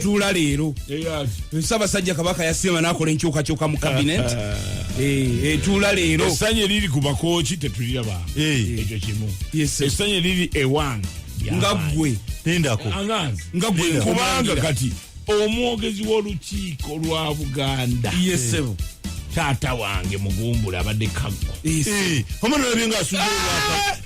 tuula leero ssabasajja kabaka yasiima nakola enkyukakyuka mu kabinet eh, etuula leero essanyu eriri ku bakooki tetulira bantu eh. ekyo kimu essanyu eriri ewange nga ggwe nendako nga ggwe kubanga kati omwogezi w'olukiiko lwa buganda yesebo eh. taata wange mugumbula abadde kaggo omwana olabye nga asudde olwaka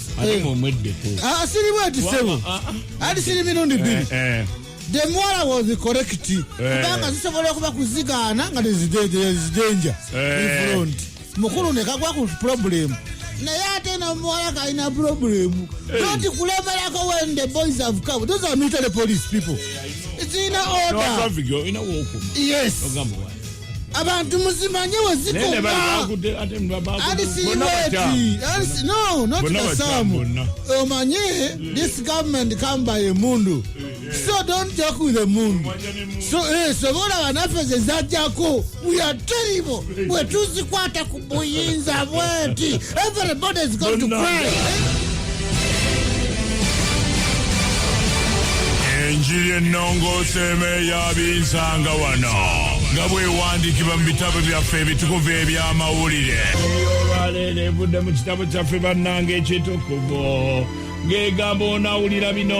Eh. Ah, asiri bweti sebo ah, ah. ali siri mirundi eh, biri eh. the mwala was correct kubanga zisobola okuba kuzigaana nga tezidenja front mukulu nekagwa ku problem naye ate nomuwala kalina problem doti kulemerako when the boys have come those are military police people zirina order yes abantu muzimanye wezikomaalisiriwetialisinonotibasamu omanye this government come by emundu so don't joke with emundu so eh, sobola banaffe zezajako we are terrible bwetuzikwata buyinza bwenti everybody is going to cry enjiri ennongoosa emeeya binsanga wano nga bwewandikibwa mu bitabo byaffe ebitukuvu eby'amawulire olwaleero evudde mu kitabo kyaffe bannanga ekitukuvu ng'egamba onawulira bino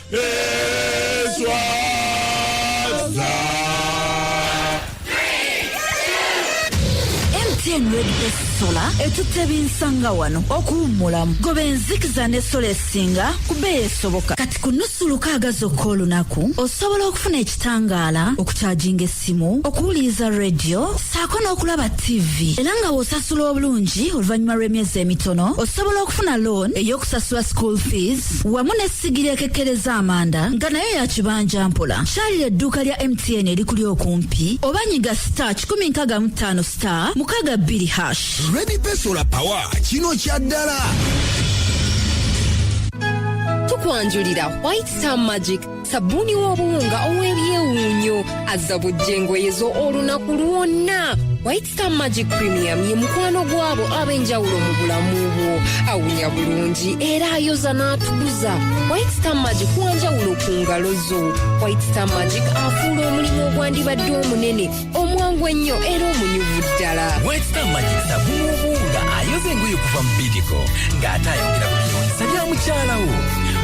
mtn redbest sola etutte binsanga wano okuwummulamu goba enzikiza ne sola esinga ku bbeeyi esoboka kati ku nnusu lukaaga zokka olunaku osobola okufuna ekitangaala okukyajinga essimu okuwuliriza rediyo saako n'okulaba ttivi era nga w'osasula obulungi oluvannyuma lw'emyezi emitono osobola okufuna loan ey'okusasula school fees wamu n'essigiri ekekkereza amanda nga nayo ya kibanja mpola kyalira edduuka lya mtn erikuli okumpi oba nyiga star 155 star mukaga bbiri hash Ready Pay Solar Power kino kya ddala tukwanjulira white star magic sabbuuni w'obuwunga ow'ebyewuunyo azza bujja engoye zo olunaku lwonna white star magic premium ye mukwano gw'abo ab'enjawulo mu bulamu bwo awunya bulungi era ayoza n'atukuza white star magic wanjawulo ku ngalo zo white star magic afuula omulimu ogwandibadde omunene omwangu ennyo era omunyuvu ddala wekita amanyi sabuubu nga ayoza engoye okuva mu bidiko ng'ate ayongera ku byewunyisa bya mukyalawo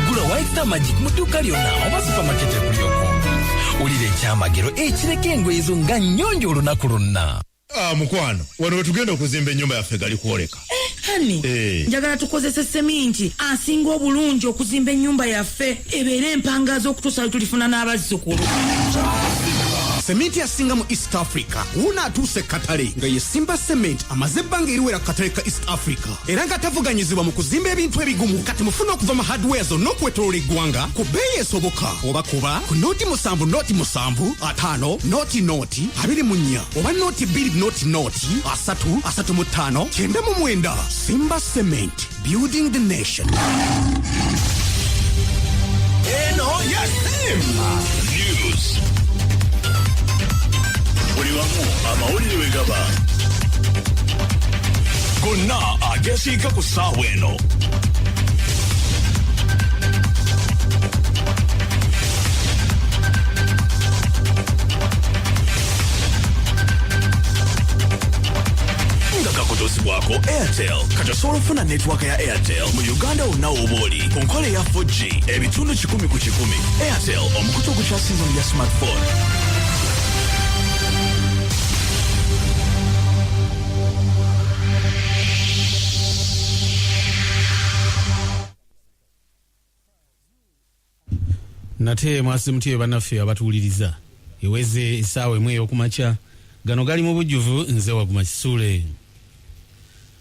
gula wekita magic mu dduuka lyonna oba supamaketi ekuli okumpi wulira ekyamagero ekireka engoye zo nga nnyonjo olunaku lwonna Ah, mukwano wano wetugenda okuzimba ennyumba yaffe gali kwoleka Eh, hani eh. njagala tukozese seminti asinga obulungi okuzimba ennyumba yaffe ebeere empangaaza okutuusa lwetulifuna n'abazzukulu seminti asinga mu east africa wuuno atuuse ekkatale nga ye simba cement amaze ebbanga eriwera ku katale ka east africa era nga tavuganyizibwa mu kuzimba ebintu ebigumu kati mufuna okuva mu hardware zonna okwetolola eggwanga ku bbeeyi esoboka oba kuba ku nooti musanvu nooti musanvu ataano nooti nooti abiri mu nnya oba nooti bbiri nooti nooti kati asatu asatu mu ttaano kyenda mu mwenda simba cement building the nation eno yasimba news buli wamu amawulire we gaba gonna agesiika ku ssaawa eno nga kakutuzibwako airtel kati osobola okufuna netiwaaka ya airtel mu uganda wonna wooba oli ku nkola eya 4g ebitundu 1 ku 1 airtel omukutu ogukyasinga mu bya smartphone nate mwasi mutyeyo banaffe abatuwuliriza eweze esaawa emu eyokumakya gano gali mu bujjuvu nze waguma kisule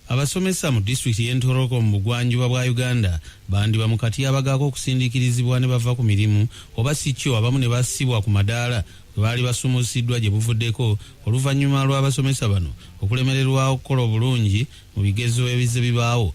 abasomesa mu disitulikiti y'entoroko mu bugwanjuba bwa uganda bandiba mu katyabaga k'okusindiikirizibwa ne bava ku mirimu oba si kyo abamu ne bassibwa ku madaala bwe baali basumuusiddwa gye buvuddeko oluvannyuma lw'abasomesa bano okulemererwa okukola obulungi mu bigezo ebizze bibaawo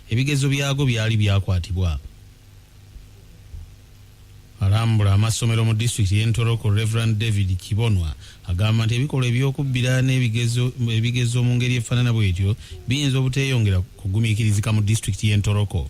Ebigezo byago byali byakwatibwa alambula amassomero mu disitulikiti y'e Ntoroko Rev David Kibonwa agamba nti ebikolwa eby'okubbira n'ebigezo mu ngeri efaanana bw'etyo biyinza obuteeyongera kugumiikirizika mu disitulikiti y'e Ntoroko.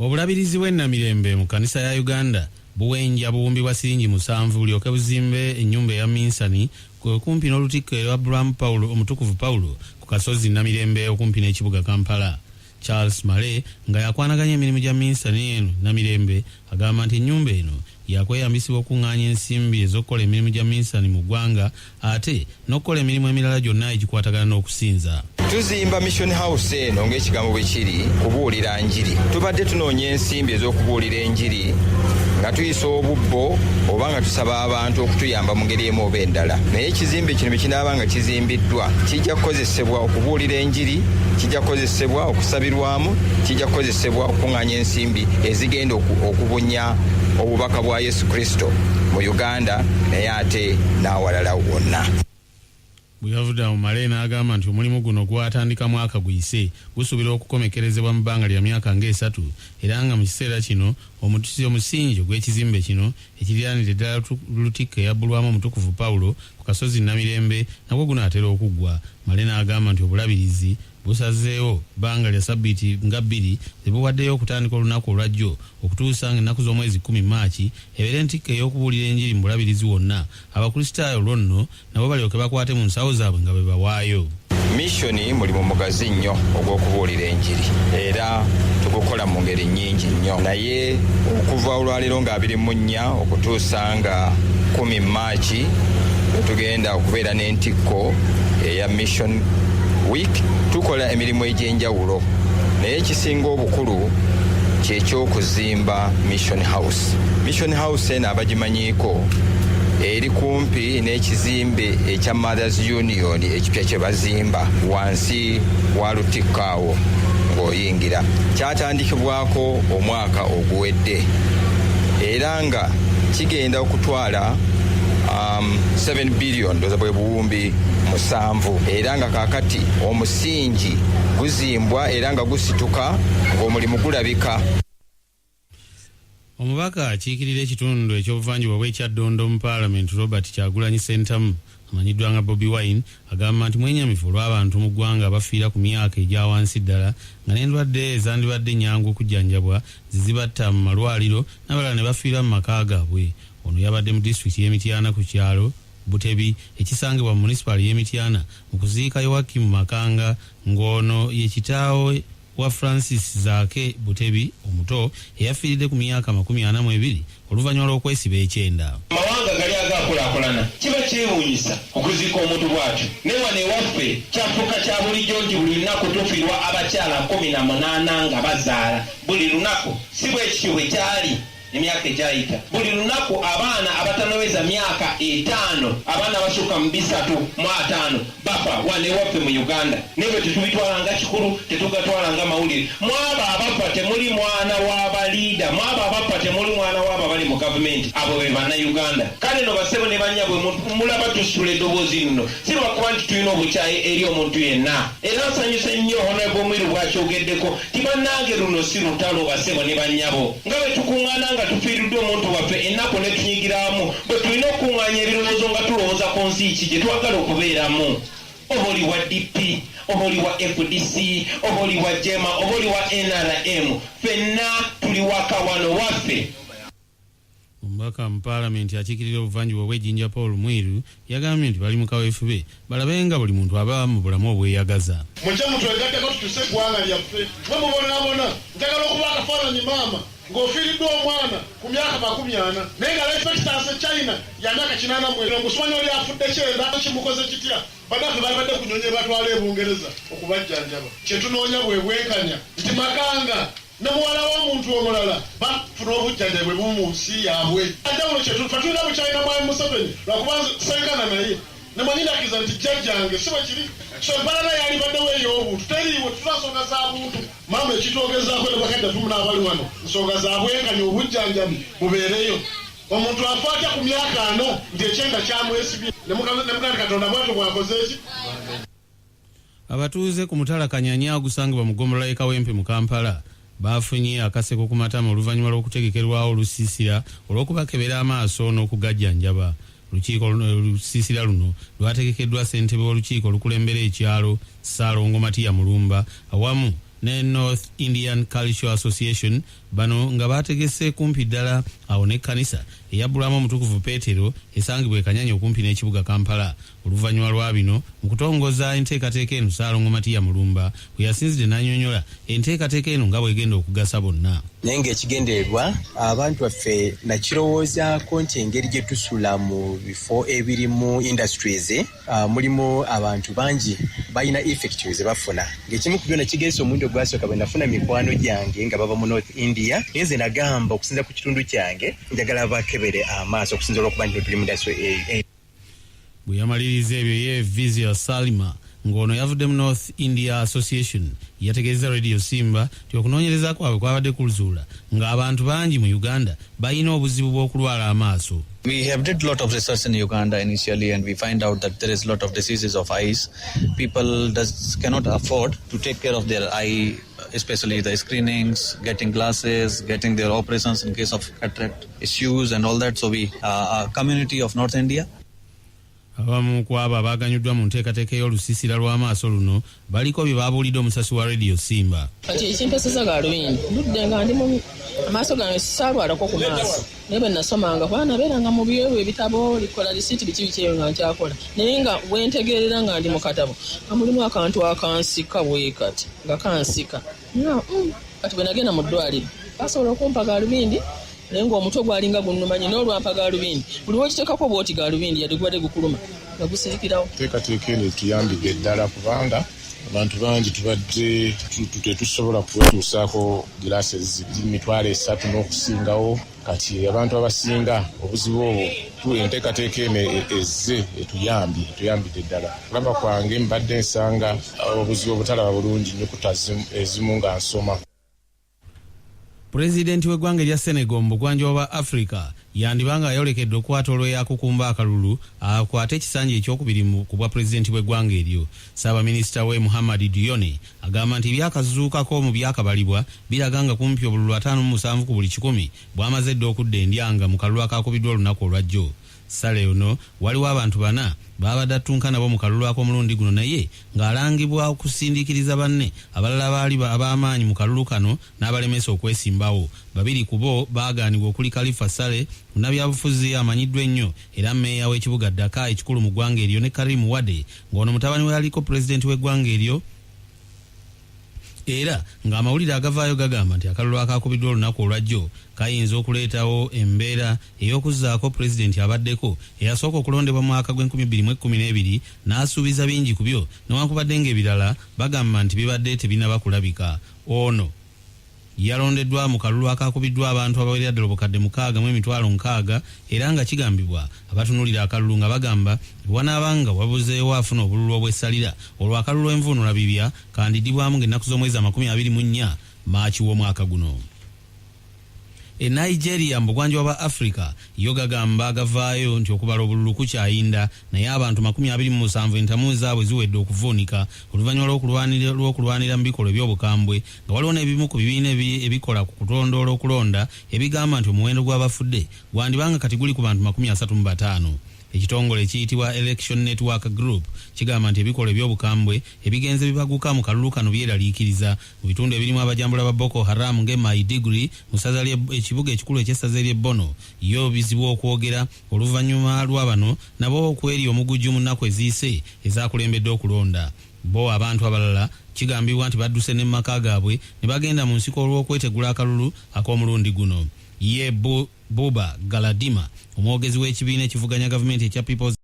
Obulabirizi bw'e Namirembe mu kanisa ya Uganda buwenja buwumbi bwa siringi musanvu bulyoke buzimbe ennyumba eya minsani ku okumpi n'olutikko e Abraham Paul omutukuvu Paul ku kasozi Namirembe okumpi n'ekibuga Kampala. Charles Male nga yakwanaganya emirimu gya minsani eno Namirembe Agamba nti ennyumba eno yakweyambisibwa okukung'aanya ensimbi ez'okukola emirimu gya minsani mu ggwanga ate n'okukola emirimu emirala gyonna egikwatagana n'okusinza. Tuzimba Mission House eno ng'ekigambo bwe kiri, kubuulira njiri. Tubadde tunoonya ensimbi ez'okubuulira enjiri nga tuyisa obubbo oba nga tusaba abantu okutuyamba mu ngeri emu oba endala. Naye ekizimbe kino bwe kinaaba nga kizimbiddwa, kijja kukozesebwa okubuulira enjiri, kijja kukozesebwa okusabirwamu, kijja kukozesebwa Sebwa okukung'anya ensimbi ezigenda okubunya obubaka bwa Yesu Kristo mu Uganda naye ate n'awalala wonna. bweyavudde awo male n'agamba nti omulimu guno gwatandika mwaka guyise gusuubira okukomekerezebwa mu bbanga lya myaka ng'esatu era nga mu kiseera kino omutusi omusingi ogw'ekizimbe kino ekiriraanira eddala lutikka eyabbulwamu omutukuvu pawulo ku kasozi namirembe nagwo gunaatera okuggwa male n'agamba nti obulabirizi busazeewo bbanga lya sabiti nga bbiri ze buwaddeyo okutandika olunaku olwa jjo okutuusa nga ennaku z'omwezi kkumi Maaci ebeere ntikko ey'okubuulira enjiri mu bulabirizi wonna abakristaayo olwo nno nabo balyoke bakwate mu nsawo zaabwe nga bwe bawaayo Missioni mulimu mugazi nnyo ogw'okubuulira enjiri era tugukola mu ngeri nnyingi nnyo naye okuva olwaleero nga abiri mu nnya okutuusa nga kumi aki wetugenda okubeera n'entikko eya mission week tukola emirimu egy'enjawulo naye ekisinga obukulu kyekyokuzimba mission house mission house eno abagimanyiiko eri kumpi n'ekizimbe ekya mothers union ekipya kye bazimba wansi wa lutikko awo ng'oyingira kyatandikibwako omwaka oguwedde era nga kigenda okutwala um, 7 billion ndoza bwe buwumbi musanvu era nga kakati omusingi guzimbwa era nga gusituka ng'omulimu gulabika omubaka akiikirira ekitundu ekyobuvanjuba bw'ekyaddondo mu paalamenti robert kyagulanyi sentamu amanyiddwa nga Bobi Wine agamba nti mwenyamivu olw'abantu mu ggwanga abafiira ku myaka egya wansi ddala nga n'endwadde ezandibadde ennyangu okujjanjabwa ze zibatta mu malwaliro n'abalala ne bafiira mu maka gaabwe. Ono yabadde mu disitulikiti y'e Mityana ku kyalo Butebi ekisangibwa mu munisipaali y'e Mityana mu kuziika Yoakim Makanga ng'ono ye kitaawe. wa Francis Zaake Butebi omuto eyafiiridde ku myaka amakumi ana mu ebiri oluvannyuma lw'okwesiba ekyenda. Amawanga gali agaakulaakulana kiba kyewuunyisa okuziika omuntu bw'atyo naye wano ewaffe kyafuuka kya bulijjo nti buli lunaku tufiirwa abakyala kkumi na munaana nga bazaala buli lunaku. Si bwe kityo bwe kyali. Emyaka egyayita. Buli lunaku abaana abatanaweza myaka etaano, abaana abasukka mu bisatu mu ataano bafa wano ewaffe mu Uganda. Naye ebyo tetubitwala nga kikulu, tetugatwala nga mawulire. Mu abo abafa temuli mwana wa ba leader, mu abo abafa temuli mwana w'abo abali mu gavumenti. Abo be Bannayuganda. Kale nno bassebo ne bannyabwe mu, mulaba tusitula eddoboozi lino si lwakuba nti tulina obukyayi eri omuntu yenna. Era nsanyuse nnyo Honourable Mwiru bw'akyogeddeko. Nti bannange luno si lutalo bassebo ne bannyabo, nga bwe tukuŋŋaana nga tufiiriddwa omuntu waffe ennaku ne tunyigiramu, bwe tulina okukuŋŋaanya ebirowoozo nga tulowooza ku nsi ki gye twagala okubeeramu. Oba oli wa DP, oba oli wa fdc, oba oli wa jeema, oba oli wa nrm, ffenna tuli waka wano waffe. Omubaka mu Palamenti akiikirira obuvanjuba obw'e Jinja Paul Mwiru yagambye nti bali mu kaweefube balabe nga buli muntu aba mu bulamu obweyagaza. Mujje mutwegatteko tukyuse eggwanga lyaffe. Mwe mubonabona. Njagala okuba akafaananyi maama ng'ofiiriddwa omwana ku myaka makumi ana naye nga life expectancy e China ya myaka kinaana mu ena. Ng'osimanyi oli afudde kyenda kimukoze kitya? Bannaffe balibadde ku nnyonyi ebatwala e Bungereza okubajjanjaba. Kye tunoonya bwe bwenkanya nti Makanga. ne muwala w'omuntu omulala bafuna obujjanjabi bwe bumu mu nsi yaabwe. Enjawulo kye tulina bukyayi na Mwami Museveni lwakuba nze ssenkana naye ne mwennyini akkiriza nti jjajjange. Si bwe kiri? So empalana yalibaddewo ey'obuntu teriiwo, tetulina nsonga za buntu. Maama ekitwogezaako ne bakadde baffe muna abali wano, nsonga za bwenkanya, obujjanjabi bubeereyo. Omuntu afa atya ku myaka ana nti ekyenda kyamwesibye? Ne mugamba nti Katonda bwatyo bw'akoze ki? Abatuuze ku mutala Kanyanya ogusangibwa mu ggombolola y'e Kawempe mu Kampala baafunye akaseko ku matama oluvannyuma lw'okutegekerwawo olusiisira olw'okubakebera amaaso n'okugajjanjaba. Olukiiko olusiisira luno lwategekeddwa ssentebe w'olukiiko olukulembera ekyalo, Ssaalongo Matia Mulumba awamu ne North Indian Cultural Association, bano nga baategese kumpi ddala awo n'ekkanisa eyabbulwamu Omutukuvu Peetero esangibwa e Kanyanya okumpi n'ekibuga Kampala. Oluvanyuma lwa bino, mu kutongoza enteekateeka eno Ssaalongo Matia Mulumba we yasinzidde n'anyonyola enteekateeka eno nga bw'egenda okugasa bonna. Naye ng'ekigendererwa abantu baffe nakirowoozaako nti engeri gye tusula mu bifo ebirimu industries ah, mulimu abantu bangi balina effect ze bafuna ng'ekimu ku byo nakigezesa omulundi ogwasooka bwe nafuna mikwano gyange nga bava mu north india naye nze nagamba okusinza ku kitundu kyange njagala bakebere amaaso okusinza olwokuba nti tuli mu industry eyo Bwe yamaliriza ebyo ye Vizier Salima ng'ono yavudde mu North India Association yategeezezza Radio Simba nti okunoonyereza kwabwe kwabadde kulzuula ng'abantu bangi mu Uganda balina obuzibu bw'okulwala amaaso. We have did lot of research in Uganda initially and we find out that there is lot of diseases of eyes. People does cannot afford to take care of their eye especially the screenings, getting glasses, getting their operations in case of cataract issues and all that. So we are uh, a community of North India. abamu ku abo abaaganyuddwa mu nteekateeka ey'olusiisira lw'amaaso luno baliko bye baabuulidde omusasi wa rediyo simba kati ekimpeseza gaalubindi ludde nga ndi mu amaaso gange sisaalwalako ku maaso naye bwe nasomanga kuba nabeeranga mu byewo ebitabo likola lisiiti biki biki ebyo nga nkyakola naye nga wentegeerera nga ndi mu katabo nga mulimu akantu akansika bwekati nga kansika nga mm, kati bwe nagenda mu ddwaliro basobola okumpa galubindi naye ngaomutwe gwalinga gunumanyi nolwampa galubindi buli wekitekako bwoti galubindi yadde gubadde gukuluma nga gusirikirawo teekateeka eno etuyambidde eddala kubanga abantu bangi tubadde tetusobola kwetuusaako giraasi eziri mitwalo esatu n'okusingawo kati abantu abasinga obuzibu obwo tu enteekateeka eno ezze etuyambye etuyambidde ddala kulaba kwange mbadde nsanga obuzibu obutalaba bulungi nyukuta ezimu nga nsoma Pulezidenti w'eggwanga erya Senegal mu bugwanjuba bwa Africa yandiba nga ayolekedde okukwata olweyakukumba akalulu akwate ekisanja ekyokubiri mu ku bwapulezidenti bw'eggwanga eryo. Ssaabaminisita we Muhammad Dionne agamba nti ebyakazuukako mu byakabalibwa biraga nga kumpi obululu ataano mu musanvu ku buli kikumi bwamaze dda okudda endyanga mu kalulu akaakubiddwa olunaku olwajjo. Saleh ono waliwo abantu bana baabadde attunka nabo mu kalulu ak'omulundi guno naye ng'alangibwa okusindiikiriza banne abalala abaali ab'amaanyi mu kalulu kano n'abalemesa okwesimbawo. Babiri ku bo baagaanibwa okuli Kalifah Saleh munnabyabufuzi amanyiddwa ennyo era mmeeya w'ekibuga Dakar ekikulu mu ggwanga eryo ne Karim Wade ng'ono mutabani w'eyaliko pulezidenti w'eggwanga eryo era ng'amawulire agavaayo gagamba nti akalulu akaakubiddwa olunaku olwajjo kayinza okuleetawo embeera ey'okuzzaako pulezidenti abaddeko eyasooka okulondebwa mu mwaka gw'enkumi bbiri mu ekkumi n'ebiri n'asuubiza bingi ku byo newankubadde ng'ebirala bagamba nti bibadde tebinaba kulabika. Ono. Yalondeddwa mu kalulu akaakubiddwa abantu abawerera ddala obukadde mukaaga mu emitwalo nkaaga era nga kigambibwa abatunuulira akalulu nga bagamba bwe wanaaba nga wabuzeewo afuna obululu obw'essalira olwo akalulu envuunulabibya kandidibwamu ng'ennaku z'omwezi amakumi abiri mu nnya, March, w'omwaka guno. E Nigeria mu bugwanjuba bwa Africa yo gagamba gavaayo nti okubala obululu kukyayinda naye abantu makumi abiri mu musanvu entamu zaabwe ziwedde okuvuunika oluvannyuma lw'okulwanira lw'okulwanira mu bikolwa eby'obukambwe nga waliwo n'ebimu ku bibiina ebikola ku kutondoola okulonda ebigamba nti omuwendo gw'abafudde gwandiba nga kati guli ku bantu makumi asatu mu bataano. Ekitongole ekiyitibwa Election Network Group kigamba nti ebikolwa eby'obukambwe ebigenze bibaguka mu kalulu kano byeraliikiriza mu bitundu ebirimu abajambula ba Boko Haram ng'e Maidugri mu ssaza ly'e ekibuga ekikulu eky'essaza ery'e Bono yo bizibu okwogera oluvannyuma lwa bano nabo okwerya omuguju mu nnaku eziyise ezaakulembedde okulonda. Bbo abantu abalala kigambibwa nti badduse ne mu maka gaabwe ne bagenda mu nsiko olw'okwetegula akalulu ak'omulundi guno. Ye Bu, Buba Galadima, omwogezi w'ekibiina ekivuganya gavumenti ekya People's.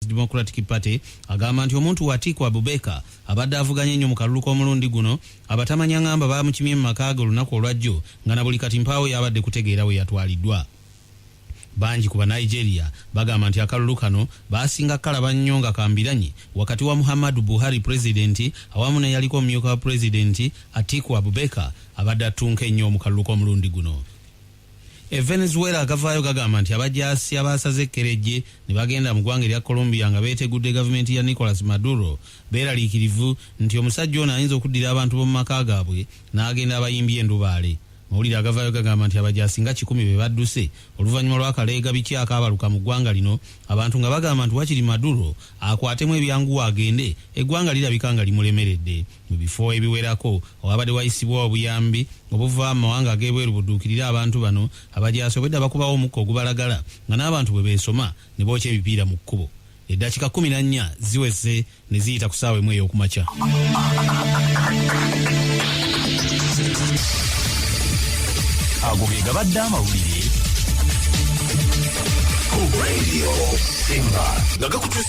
Democratic Party agamba nti omuntu we Atiku Abubeka abadde avuganye nnyo mu kalulu k'omulundi guno abatamanya ngamba baamukimye mu maka ge olunaku olwajjo nga na buli kati mpaawo y'abadde kutegeera we yatwaliddwa. Bangi ku Banigeria bagamba nti akalulu kano baasinga kukalaba nnyo nga ka mbiranye wakati wa Muhammadu Buhari Pulezidenti awamu n'eyaliko omumyuka wa Pulezidenti Atiku Abubeka abadde attunka ennyo mu kalulu k'omulundi guno. E Venezuela agavaayo gagamba nti abajaasi abaasaze ekkerejje ne bagenda mu ggwanga erya Colombia nga beetegudde gavumenti ya Nicolas Maduro beeraliikirivu nti omusajja ono ayinza okuddira abantu b'omu maka gaabwe n'agenda abayimbye endubaale. Amawulire agavaayo gagamba nti abajaasi nga kikumi be badduse oluvannyuma lw'akaleegabikye akaabaluka mu ggwanga lino abantu nga bagamba nti wakiri Maduro akwatemu ebyanguwa agende eggwanga lirabika nga limulemeredde. Mu bifo ebiwerako owabade wayisibwa obuyambi obuva mu mawanga ag'ebweru buduukirire abantu bano abajaasi obwedda bakubawo omukka ogubalagala nga n'abantu bwe beesoma ne bookya ebipiira mu kkubo. Eddakiika kkumi na nnya ziweze ne ziyita ku ssaawa emu ey'okumakya. Ago ge gabadde amawulire ku Radio Simba nga gakutuusa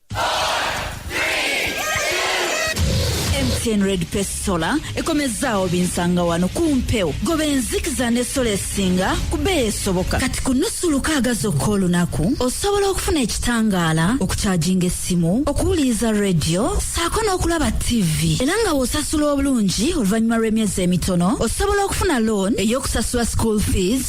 Ten Red Pace Solar ekomezzaawo binsanga wano ku mpewo goba enzikiza ne sola esinga ku bbeeyi esoboka kati ku nnusu lukaaga zokka olunaku osobola okufuna ekitangaala okukyajinga essimu okuwuliriza rediyo saako n'okulaba tv era nga w'osasula obulungi oluvannyuma lw'emyezi emitono osobola okufuna loan ey'okusasula school fees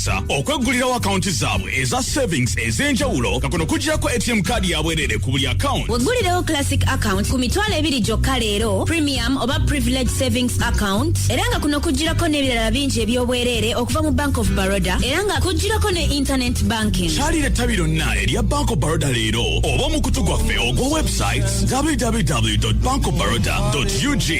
Sa okweggulirawo akawunti zaabwe eza savings ez'enjawulo nga kuno kugirako atm kaadi ya bwereere ku buli akawunti weggulirewo classic account ku mitwalo ebiri gyokka leero premium oba privilege savings account era nga kuno kugirako n'ebirala bingi eby'obwereere okuva mu bank of baroda era nga kugirako ne internet banking kyalira ettabi lyonna erya bank of baroda leero oba omukutu gwaffe ogwa websites www bankofbaroda ug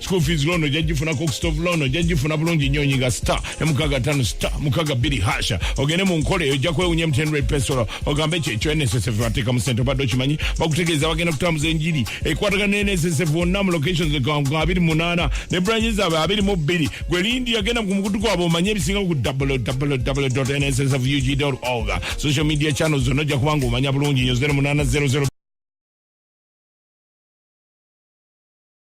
school fees loan ojja gifuna cook stove loan ojja gifuna bulungi nnyo onyiga star ne mukaga tano star mukaga bbiri hasha ogende mu nkola eyo ojja kwewunya mtn red pesolo ogambe ekyo ekyo nssf bateeka mu sente obadde okimanyi bakutegeeza bagenda kutambuza enjiri ekwatagana ne nssf wonna mu locations nga abiri munaana ne branyi zaabwe abiri mu bbiri gwe lindi yagenda ku mukutu gwabwe omanye ebisinga ku www nssf ug org social media channels zonna ojja kubanga omanya bulungi nyo 0 munana 00